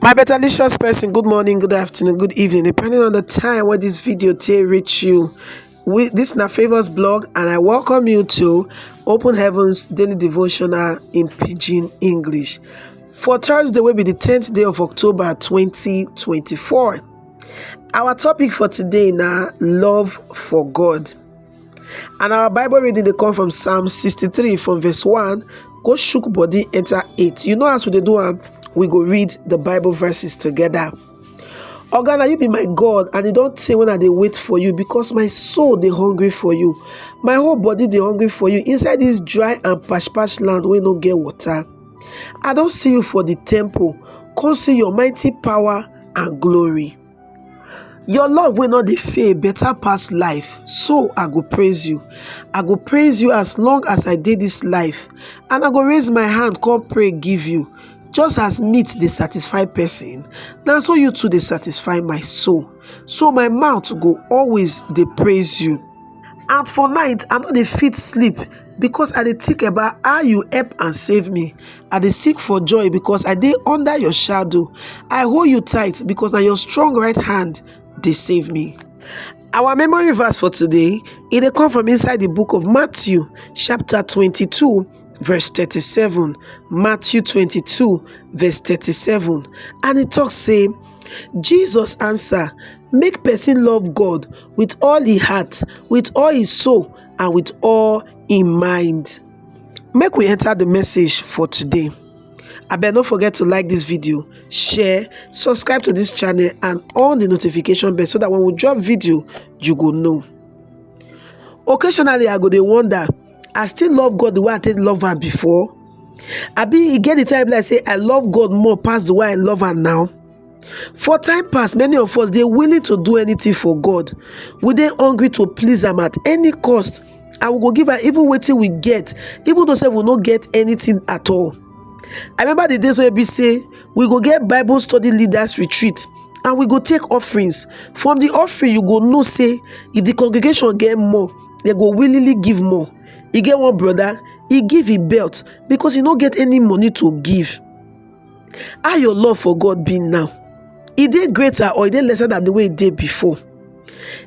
my better licious person good morning good afternoon good evening depending on the time where this video to reach you we this is na favors blog and i welcome you to open heavens daily devotional in pidgin english for thursday will be the 10th day of october 2024 our topic for today now love for god And our Bible reading they come from Psalm 63 from verse 1. Go shook body enter 8. You know as we do am, we go read the Bible verses together. Oh God, you be my God, and you don't say when I they wait for you because my soul they hungry for you. My whole body they hungry for you inside this dry and pash pash land where no get water. I don't see you for the temple. Come see your mighty power and glory. your love will not fail better pass life so i go praise you i go praise you as long as i did this life and i go raise my hand come pray give you just as meat they satisfy person now so you too they satisfy my soul so my mouth go always they praise you and for night i no dey fit sleep because i dey think about how you help and save me i dey sing for joy because i dey under your shadow i hold you tight because na your strong right hand dey save me our memory verse for today e dey come from inside the book of matthew chapter 22 verse 37 matthew 22 verse 37 and e talk say Jesus answer, Make person love God with all e heart, with all e soul, and with all e mind. Make we enter the message for today. abeg no forget to like this video share subscribe to this channel and on the notification bell so that when we drop video you go know occasionally i go dey wonder I still love God the way I take love am before? I be e get the time like say I love God more past the way I love am now? For time past, many of us they willing to do anything for God. We they hungry to please them at any cost. I will go give her even waiting we get, even though say we not get anything at all. I remember the days where we say we go get Bible study leaders retreat and we go take offerings. From the offering, you go know say if the congregation get more, dem go willingly give more e get one brother he give him belt because he no get any money to give how your love for God be now e dey greater or e dey lesser than the way e dey before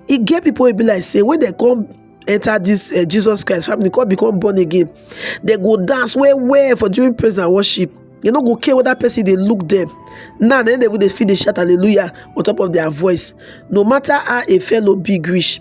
e get people wey be like say when dem come enter this uh, Jesus Christ family come become born again they go dance well well for during praise and worship they no go care whether person dey look them now then they go dey feel dey shout hallelujah on top of their voice no matter how a fellow big reach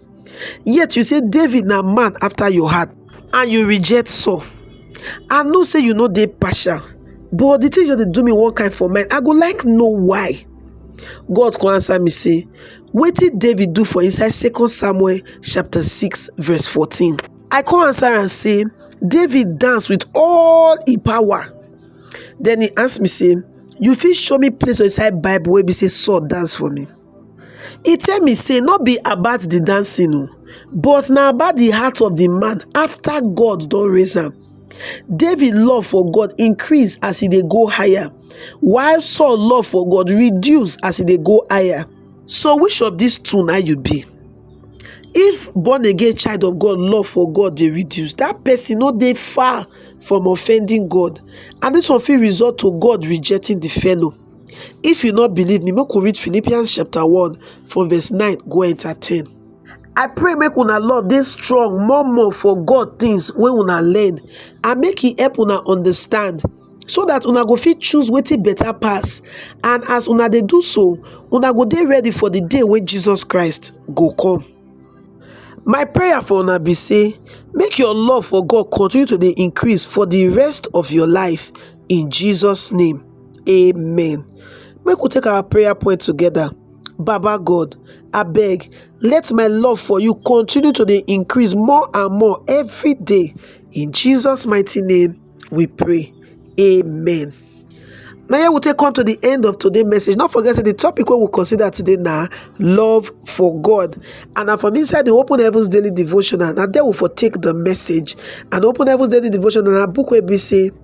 yet you say david na man after your heart and you reject saul i know say you no dey partial but the thing just dey do me one kind for mind i go like know why god come answer me say wetin david do for inside second samuel chapter 6 verse 14 i come answer am say david dance with all him power then he ask me say you fit show me place for inside bible wey be say saul dance for me he tell me say no be about the dancing o but na about the heart of the man after God don raise am David love for God increase as he dey go higher while Saul love for God reduce as he dey go higher so which of these two na you be if born again child of God love for God dey reduce that person no dey far from offending God and this one fit result to God rejecting the fellow If you no believe me, make we read Philippians chapter 1 from verse 9 go enter 10. I pray make una love dey strong more more for God things wey una learn and make e help una understand so that una go fit choose wetin better pass and as una dey do so una go dey ready for the day wey Jesus Christ go come. My prayer for una be say make your love for God continue to dey increase for the rest of your life in Jesus name. amen make we take our prayer point together baba god abeg let my love for you continue to dey increase more and more every day in jesus mighty name we pray amen Now here we take come to the end of today's message. Not forget the topic we will consider today now love for God. And now from inside the Open Heavens Daily Devotional, now there we for take the message. And Open Heavens Daily Devotional, a book where we say